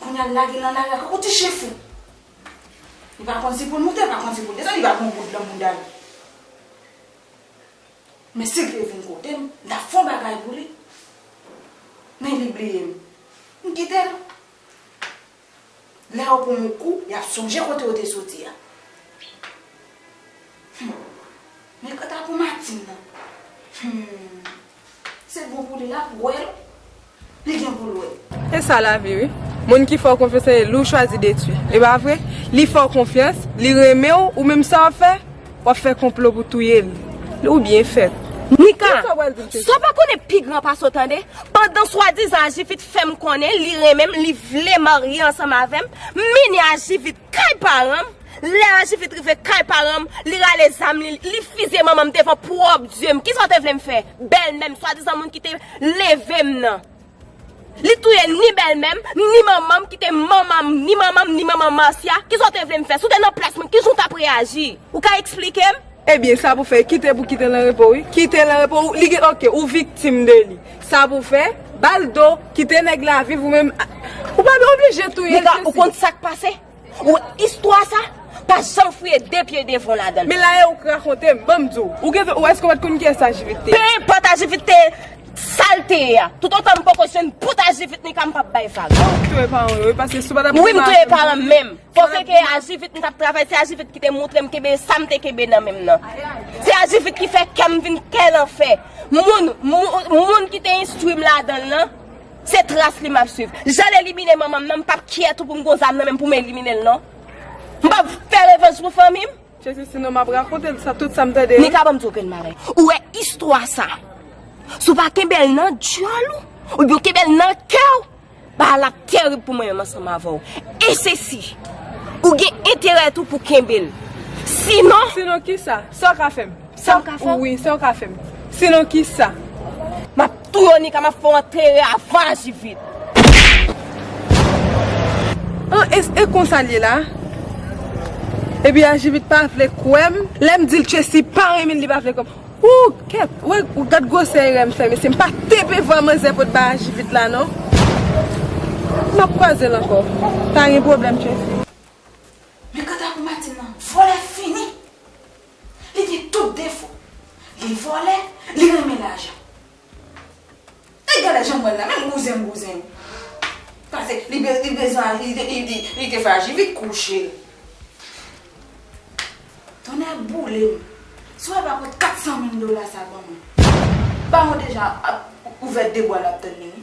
Kounya li lage nan lari ankò. Ou ti chyen fou! Li pa konn si pou l moute, li pa konn si pou l desann, li va pran yon bout nan bounda l. Men si l te vin kote m, m t ap fè yon bagay pou li. Men li bliye m. M kite l. Lè yo pran yon kou, y ap sonje kote yo te soti a. Hum! Men kanta pou Martine nan. Hum! Se bon pou li lap wel li gen poul we. Esa lavi wi Moun ki fè w konfyans e li w chwazi detwi e pa vre li fè w konfyans li renmen w ou menm sa wap fè wap fè konplo pou touye l ou byen fèt. Mika, sa w pa konnen pi gran pase w tande, pandan swadizan ajivit fè m konnen li renmen m li vle marye ansanm avè m, mini ajivit Kay paranm, lè Ajifit rive kay paranm, li rale zam li, li fizye manmanm devan pwòp dye m, kisa w te vle m fè? Bèlmè m, swadizan moun ki te leve m nan. Li touye ni bèlmè m, ni manman m ki te manman m, ni manman m, ni manman Marcia, kisa w te vle m fè? Si w te nan plas mwen, kijan w t ap reyaji? Ou ka eksplike m? Ebyen sa pou fè kite pou kite l anrepo wi kite l anrepo ou li gen ok ou viktim de li sa pou fè bal do kite nèg la viv ou menm ou pa dwe oblije touye l Mika ou konn sak pase ou wè istwa sa pa janm fouye de pye devan w ladan l. Men la e ou k rakonte m banm di w ou gen ou èske ou pat konn kiyès ajivit te ye. Pe enpòt ajivit te ye sal te ye a tout otan m poko jwenn bout ajivit Mika m pap bay vag. Ou k touye paran w yo wi paske si w pat ap touye paran w yo. Wi m touye paran m menm. Kote ke ajivit m tap travay se ajivit ki te moutre m kenbe sa m te kenbe nan menm nan. Se ajivit ki fè kè m vin kè lanfè. Moun, moun ki te enstwi m ladan l lan, se tras li m ap swiv. Jan l elimine manman m nan, m pap kyè tou pou m gon zam nan menm pou m elimine l non. M pap fè revanj pou fanmi m. Jezi si non m ap rakonte l sa, tout sa m tande yo. Nika banm di w okenn bagay. Ou wè istwa sa, si w pa kenbe l nan dyòl ou, oubyen w kenbe l nan kè w, Bagay la terib pou mwen menm ansanm avè w. E se si. Ou gen enterè tou pou kenbe l. Sinon. Sinon ki sa? Sa w ka fè m? Sa w ka fè m? Wi, sa w ka fè m? Sinon ki sa? M ap touye w Nika, m ap fè w antere avan a ji vit. An e e konsa l ye la? Epi a ji vit pa vle kwè m? Lè m di l Tchesi pa renmen l li pa vle kwè m. Ooh kèt wè gad gwosè erè m fè mesye m pa TP vwa manzè pot ba aji vit la non Map kwazel ankò pa gen pwoblèm Tracy. Men kanta pou Martine nan, vòlè fini! Li gen tout defo, li vòlè, li renmen lajan. E gade janm wèl la menm bouzen bouzen. Pase li bezwen li te frajil li t kouche. Tonnè boulem si wè pa pot 400 mil dola sa ban mwen. Baron deja ap ouvè 2 bwa lap tann li wi.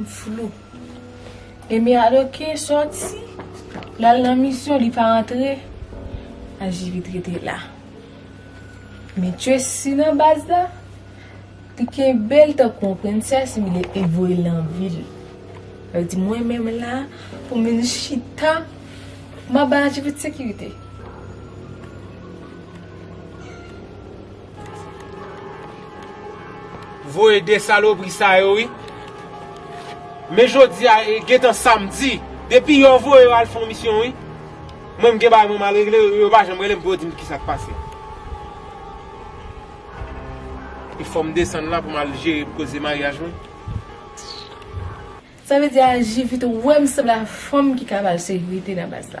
M flou. Emi Adoke soti, l al nan misyon, li pa antre, Ajivit rete la. Men Tracy nan baz la, li kenbe l tankou yon prensès, men li e voye l nan vil. Li di mwen menm la, pou m vin chita, m ap bay Ajivit sekirite. Voye 2 salopri sa yo wi. Men jodia e gentan samdi. Depi yo voye yo al fon misyon wi. Mwen m gen bagay mwen mal regle yo pa janm relem pou yo dim kisa k pase. E fom desann la pou mal jere koze maryaj mwen. Sa vle di a Jivit ou wèm sanble a fanm ki ka bal sekirite nan baz la.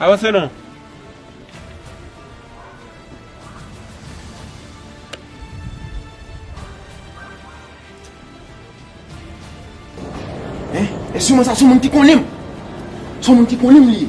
Avanse non. Hein? E sou mwen sa sou moun ki konnen m. Sou moun ki konnen m li.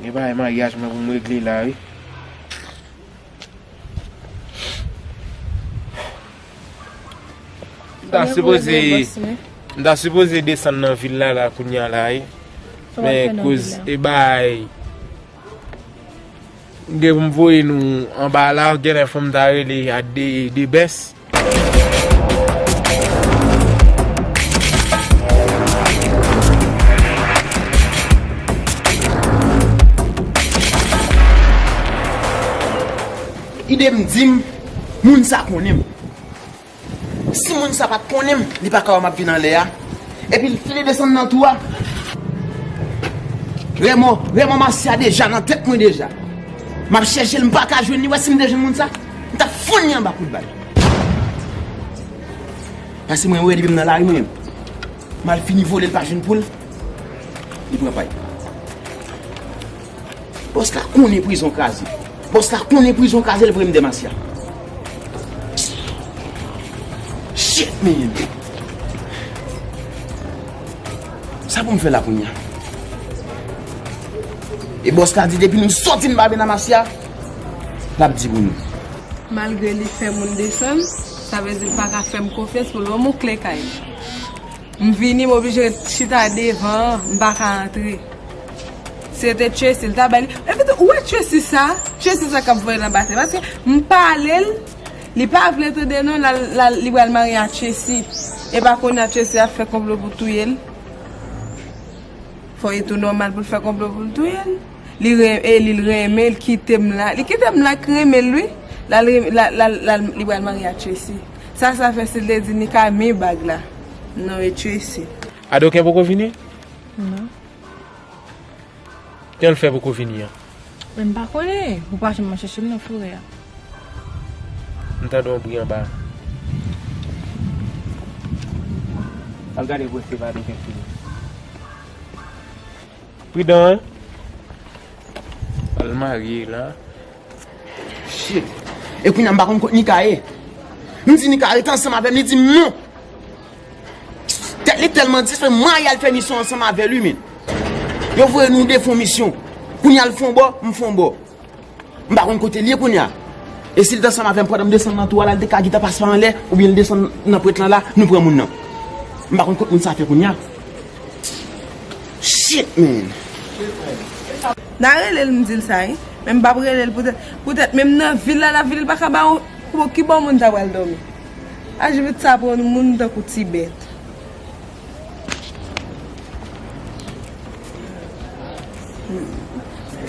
Gen bagay maryaj mwen pou m regle la wi. M ta sipoze desann nan vil la la kounya la wi. Men kouz e bagay. M gen pou m voye nou anba la, genlè fò m ta rele a de bès. Ide m di m, moun sa konnen m. Si moun sa pat konnen m, li pa ka wè m ap vin anlè a. Epi si li desann nan tou a. Remò, remò Marcia deja nan tèt mwen deja. M ap chèche l, m pa ka jwenn li. Ou wè si m te jwenn moun sa, m t ap fonn li anba kout bal. Pase mwen wè li menm nan lari mwen menm. M al fini vole l pa jwenn poul, li pran pay. Boss la konnen prizon kraze. Boss la konnen prizon kraze l vre m Demasya. Shit man. Sa pou m fè la kounya. E boss la di depi nou soti m babe Namasya. Lap di pou nou. Malgre li fè moun desann. Sa vle di l paka fè m konfyans pou l ban m yon kle kay. M vini m oblije ret chita devan an m pa ka antre se te Tracy l ta bay li epi tou ou wè Tracy sa Tracy sa k ap voye nan batey paske m pale l li pa vle tande non lal li pral marye a Tracy epa kounye a Tracy ap fè konplo pou touye l fò li tou nòmal pou l fè konplo pou l touye l li renmen l kite m la li kite m la k renmen l wi lal li pral marye a Tracy. Sa sa fè sil te di Mika rmen bag la non e Tracy. Adoken poko vini? Non. Janl fè poko vini an? Em pa konnen, ou pa janm al chèchem nan forè a. M tande yon bri anba. Al gade vre se pa Adoken ki vini. Pridan hein. Al marye la. Shit! E kounya m pa konn kot Nika ye. M di Nika ret ansanm avè m, li di m non! Tèt li tèlman di, se mwen y al fè misyon ansanm avè li men. Yo voye nou de fon misyon. Kounya l fon bò, m fon bò. M pa konn kote l ye kounya. E si l t ansanm avè m pandan m desann nan twou a la, li te ka gita pase pa anlè oubyen l desann nan prent lan la, nou pran moun nan. M pa konn kot moun sa fè kounya. Shit man! Na rele l m di l sa wi men m pap rele l poutèt poutèt menm nan vil la lap vini l pa ka ba yon bon ki bò moun ta pral dòmi ajivit sa pou yon moun tankou ti bèt.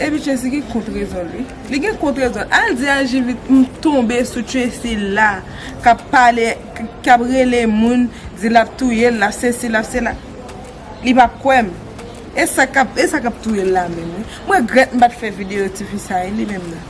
Epi Tracy gen kont rezon l wi li gen kont rezon l al di ajivit m tonbe sou Tracy la kap pale kap rele moun di lap touye l lap sesi lap sela. Li pap kwèm. E sa kap e sa kap touyel la menm wi. M regrèt m pat fè video ti fi sa e li menm nan.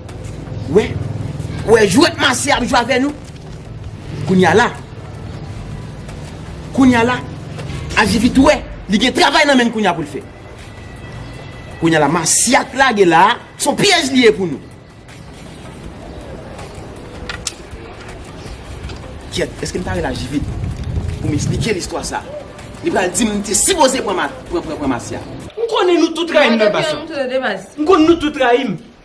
Wè Wè jwèt masè ap jwe avè nou Kounya la Kounya la Ajivit wè Li gen travay nan menn kounya poul fè Kounya la masè ap lage la Son pyèj li ye pou nou Kyèt Eskem ta rele ajivit Poum esplikel istwa sa Li pral dim li te sipoze pran pran pran masè M konnen nou tout rayim nan bas la M konnen nou tout rayim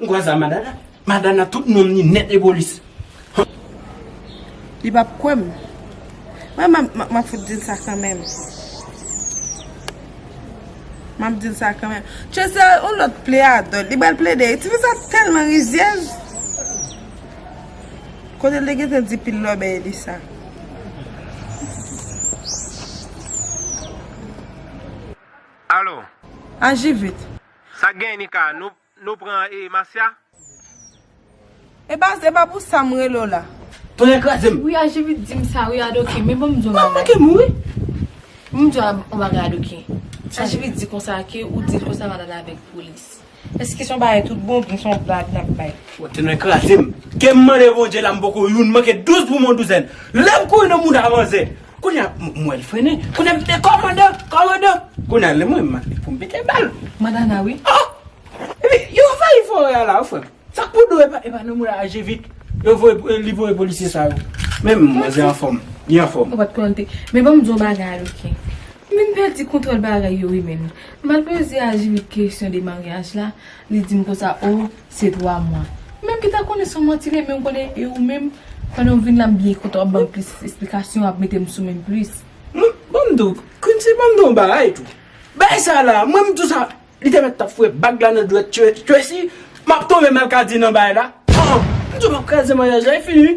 M kwè sa madana. Madana tout nonm ni nèt e polis humm. Li pap kwèm. Mwen map fout dil sa kanmenm. Map dil sa kanmenm. Tchè se yon lòt pleadò. Li bal plede. Ti fi sa telman rizyèz. Kote li gentan di pil lòbèy e li sa. Alo. Aji vit. Sak gen Nika nou Nou pran e masya. Epa epa pou sam rele w la. Tonnè krazem. Wi ajivit dim sa wi adoke men banm di yon bagay. Banm manke mou wi. Banm di yon bagay adoke. Ajivit di konsa ke ou dil konsa wal ale avek polis. Eske son bagay tout bon oubyen son blag nap bay. Tonnè krazem. Kem mande bondye la m poko youn manke 12 pou mwen douzèn. Lem kouri nan mouda manzè. Kounye a m wè l frennen. Kounye a m di kòmandan! Kòmandan! Kounye a lè m wè m mande pou m pete bal. Madana, Wi. Oh! Epi yo anvayi forè a la wi frè m. Sa k pou do e pa nou moun aje vit. Yo voye li voye polisye sa yo. Men manzè anfòm. Li anfòm. Ou pa t plante. Men ban m di w yon bagay ok. M vin pèdi kontwòl bagay yo wi menn. M al poze aji vit kesyon de maryaj la. Li di m konsa oh Se 3 mwa. Ou menm ki ta konnen son manti li ye men ou konnen e ou menm pandan ou vin la m byen kontan wap banm plis esplikasyon wap metem sou menm plis. Mwen banm diw Quincy banm diw bagay tou bagay sa la mwen m diw sa li te mèt tap foure bag la nan dwèt Tracy map tonbe malkadi nan bagay la ah m diw map kraze maryaj la e fini.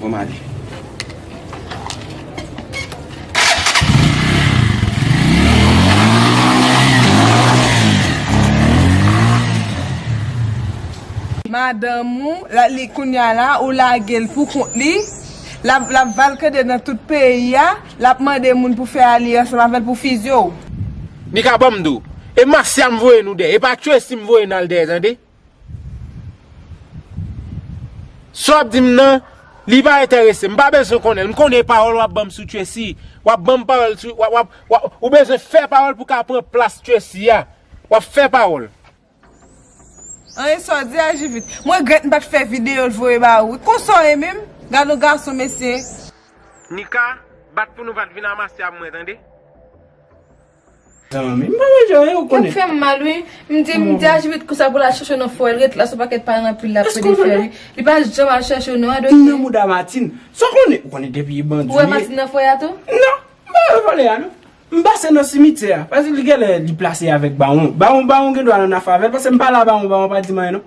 Mwen male. Madanm ou la li kounya la ou lagel pou kont li lap valkade nan tout peyi a lap mande moun pou fè alye ansanm avèl pou fizye w. Mika banm do. E Masyam voye nou dèyè. E pa Tracy m voye nal dèyè tande. Sa wap dim nan Li pa entèresem, mpa bezwen konnenl, mkonnen pawòl wap banm sou Tracy, wap banm pawòl sou, wap, wap, ou bezwen fè pawòl pou ka pran plas Tracy a, wap fè pawòl. Anh sa w di a jivit. Mwen regrèt m pat fè video l voye ba ou wi. Konsa w ye menm? Gadon gason mesye. Mika, bat pou nou pat vin amasyab mwen tande. Yap fèm mal wi, m di m di Ajivit konsa pou l al chèche w nan fò el ret la sou pakèt paran anpil lap pede fè wi, li pa janm al chèche w non a dosye. Nan mouda Martine. Sa w konnen? Ou konnen depi e bandi. Ou wè Martine nan foyer a tou? Non, m pa wè vòlè a non. M pase nan simityè a. Pase li genlè li plase avèk bawon. Bawon bawon gendwa nan afè avèl pase m pale a bawon bawon pa di m anyen non.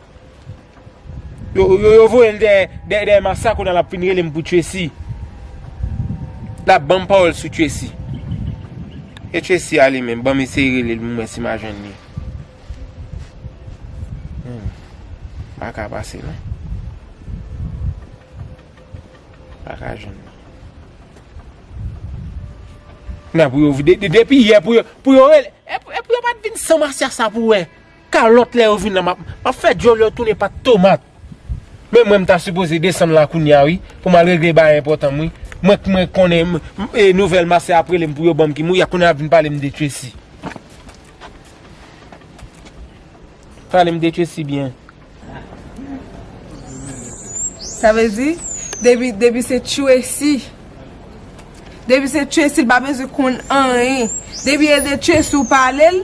Yo voyel dèyè massa kounal ap fin relem pou tracy lap banm pawòl sou tracy e tracy ale menm banm eseye relel pou mwen si ma jwenn li paka pase non paka jwenn li nan pou yo vide depi yè pou yo pou yo relel e pou yo pat vin san massa sa pou wè. Kalòt lè yo vin la map map fè dyòl yo tounen pat tomat men mwen mta sipoze desann la kounya wi poum al regle bagay enpòtanm wi mwen k mwen konnen e nouvèl masè ap relem pou yo banm kim wi ya kounya yap vin palem de Tracy palem de Tracy byen. Sa vle di depi depi se Tracy depi se Tracy li pa bezwen konn anyen depi e de Tracy ou palel.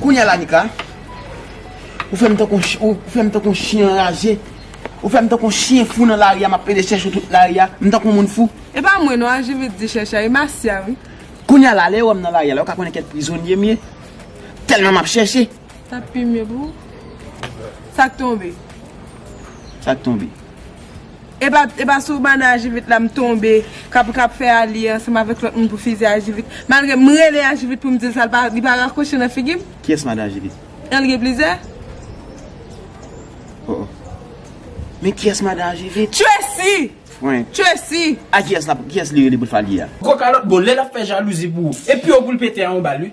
Kounya la Mika, ou fèm tankou yon chyen, ou fèm tankou yon chyen anraje, ou fèm tankou yon chyen fou nan lari a map pede chèche ou tout lari a, m tankou yon moun fou. E pa mwen non Ajivit di chèche a, e Masya wi. Kounya la, lè yo wè m nan lari a la, yo ka konnen kèt prizonye m ye, tèlman map chèche. Sa pi mye pou ou. Sak tonbe? Sak tonbe? Epa epa sou banna ajivit la m tonbe kap kap fè alye ansanm avèk lòt moun pou fizye ajivit malgre m rele ajivit pou m dil sa l pa li pa rakwoche nan figi m. Kiyès madan ajivit? An li gen plizyè? Oh oh Men kiyès madan ajivit? Tracy! Frenk! Tracy! A kiyès lap kiyès li rele pou l fè alye a? Gwo kalòt bon lè lap fè jalouzi pou ou e pi ou pou l pete a ou bal wi.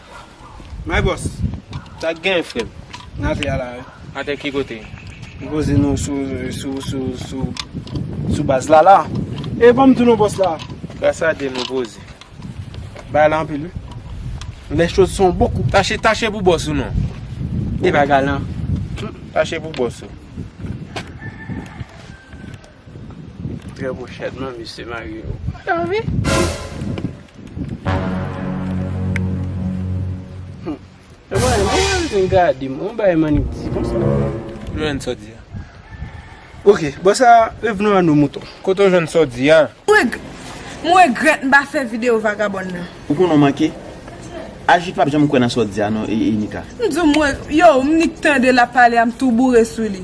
My boss, sa ki genyen frèm? N atè a la wi. Atè ki kote? M poze nou sou sou sou sou sou baz la la. E banm di nou boss la. Brassade nou poze. Bagay la anpil wi. Les choses sont beaucoup. Tache tache pou boss ou non. E bagay lan. Tache pou boss ou. Trè bon chat man mesye mario. Mwen mwen mwen mwen gade mwen mwen bay mani pti kon sa. Jwenn sa di a. Ok, bon sa revenon a nou mouton. Kote ou jwenn sa w di a? M regret m pa fe video vagabond nan. Ou konnen w manke? Ajit pap janm kwè nan sa w di a non Enika. M di w m regret, yow m nik tande lap pale a m tou boure sou li.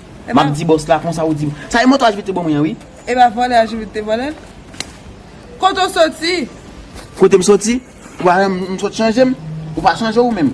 Map di boss la konsa ou dim. Sa e moto ajivit te ban mwen an wi. Epa vòlè ajivit te vòlèl. Kote ou soti? Kote m soti? Ou pa wèm m sot chanje m? Ou pa chanje ou menm?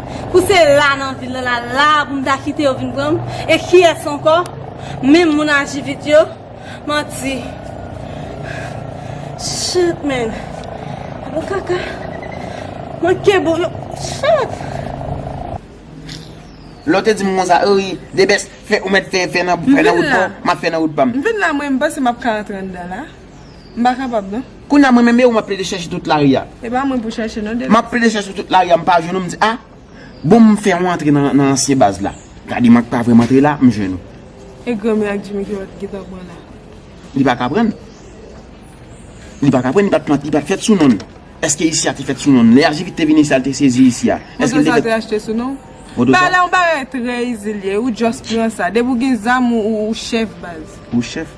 Pou se la nan vil la, la a pou m ta kite yo vin pran m. E kiyès ankò? Menm moun aji vit yo? Manti. Shit man. Bon kaka. Manke bon yo. Shit. Lè w te di m konsa, oh wi, Debest, fè, ou mèt fè, fè nan, fè nan wout pa w, m ap fè nan wout pa m. M vin la mwen, m panse m ap ka antre anndan la. M pa kapab non. Kounye a mwen menm e ou m ap plede chèche tout lari a. E pa mwen pou chèche non Denis. M ap plede chèche tout lari a m pa jwenn ou m di a bon m fè yon antre nan ansyen baz la. Gade m ak pa vre m antre la m jwenn ou. E granmè ak Jimmy ki wap gentan pran la. Li pa ka pran l. Li pa ka pran l li pat fèt sou non l. Eske isi a te fèt sou non l. Lè Ajivit te vini isi a l te sezi isi a. Moto sa te achte sou non ou. Pale yon bagay trè izi l ye ou just pran sa. Depi ou gen zam ou chèf baz. Ou chèf.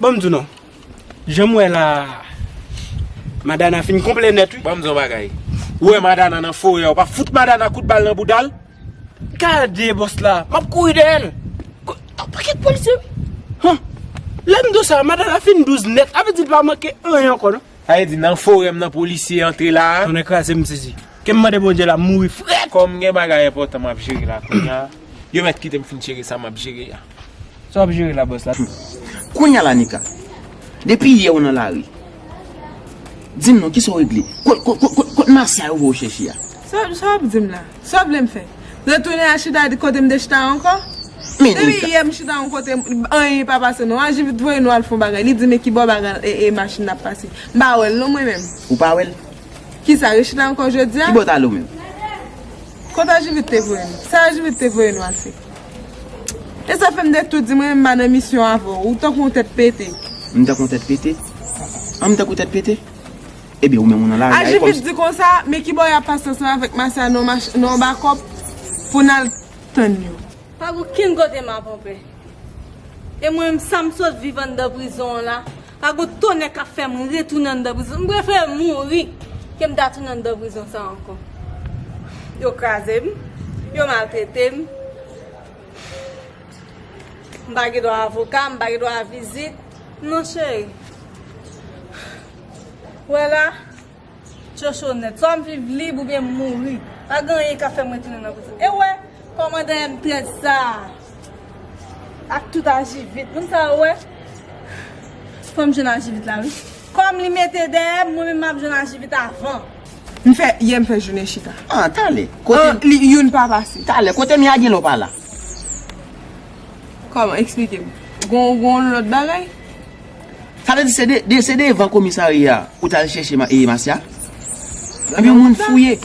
Bon m di w non, jan m wè la a, Madana fin konplè nèt wi. Bon m di w yon bagay, ou wè Madana nan forè a, ou pa fout Madana kout bal nan bouda l? Gade bòs la, m ap kouri dèyè l. Ton pakèt polisye wi. Han! Lè m di w sa a, Madana fin douz nèt, sa vle di l pa manke anyen ankò non. Sa vle di nan forè m nan polisye antre la a? Tonnè kraze m sezi. Ke m mande Bondye la, m mouri frèt! Kòm gen bagay enpòtan m ap jere la kounya, yo mèt kite m fin jere sa m ap jere a. Sa wap jere la boss la. Kounya la Nika. Depi yè ou nan lari. Dim non kisa ou regle. Kot Marcia yo voye ou chèche a. Sa wap dim la. Sa ou vlem fè. Retounen a chita kotem te chita ankò. Men Nika. Depi yè m chita yon kote anyen pa pase non. Aji vit voye nou al fon bagay. Li dim e kibò bagay e machin nan ap pase. M pa wèl non mwen menm. Ou pa wèl. Kisa rechita ankò jodia. Kibò ou tale ou menm. Kot aji vit te voye nou. Sa aji vit te voye nou al fè. E sa fèm dèk tou di mwen menm pa nan misyon avè w. Ou tankou yon tèt pete. M tankou yon tèt pete? An m tankou tèt pete? Ebyen ou menm ou nan lari a e kòmsi. Aji vit di konsa, men ki bò y ap pase ansanm avèk Masya nan yon bakòp pou n al tann yo. Pa gen okenn kote m ap anpè. E mwen menm sa m sot viv anndan prizon an la. Pa gon tonnè kap fèm retounen anndan prizon m prefere mouri ke m ta tounen anndan prizon sa ankò yo kraze m yo maltrete m m pa gen dwa avoka m pa gen dwa vizit non cheri wè la. Chochonèt, swa m viv lib oubyen m mouri, pa gen anyen k ap fè m retounen nan prizon. E wè! Kòmandan M-13 sa a, ak tout ajivit, moun sa yo wè, fò m jwenn ajivit la wi. Kòm li mete dèyè m, mwen menm m ap jwenn ajivit avan. M fè, yè m fè jounen chita. An, talè, kote. An, li, youn pa pase. Talè, kote m ye a gen lè w pa la? Kòman, eksplike m. Gon, gon lòt bagay? Sa vle di se devan komisarya a ou tal chèche Masya? Ebyen moun fouye.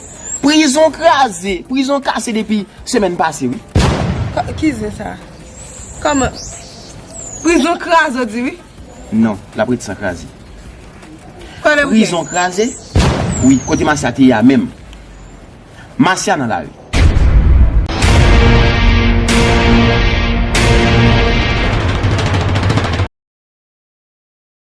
Prizon kraze, prizon kase depi semèn pase wi. Ki zen sa? Kòman? Prizon kraze ou di wi? Non, lap ret san kraze. Prizon kraze? Wi, kote Masya te ya menm. Masya nan lari.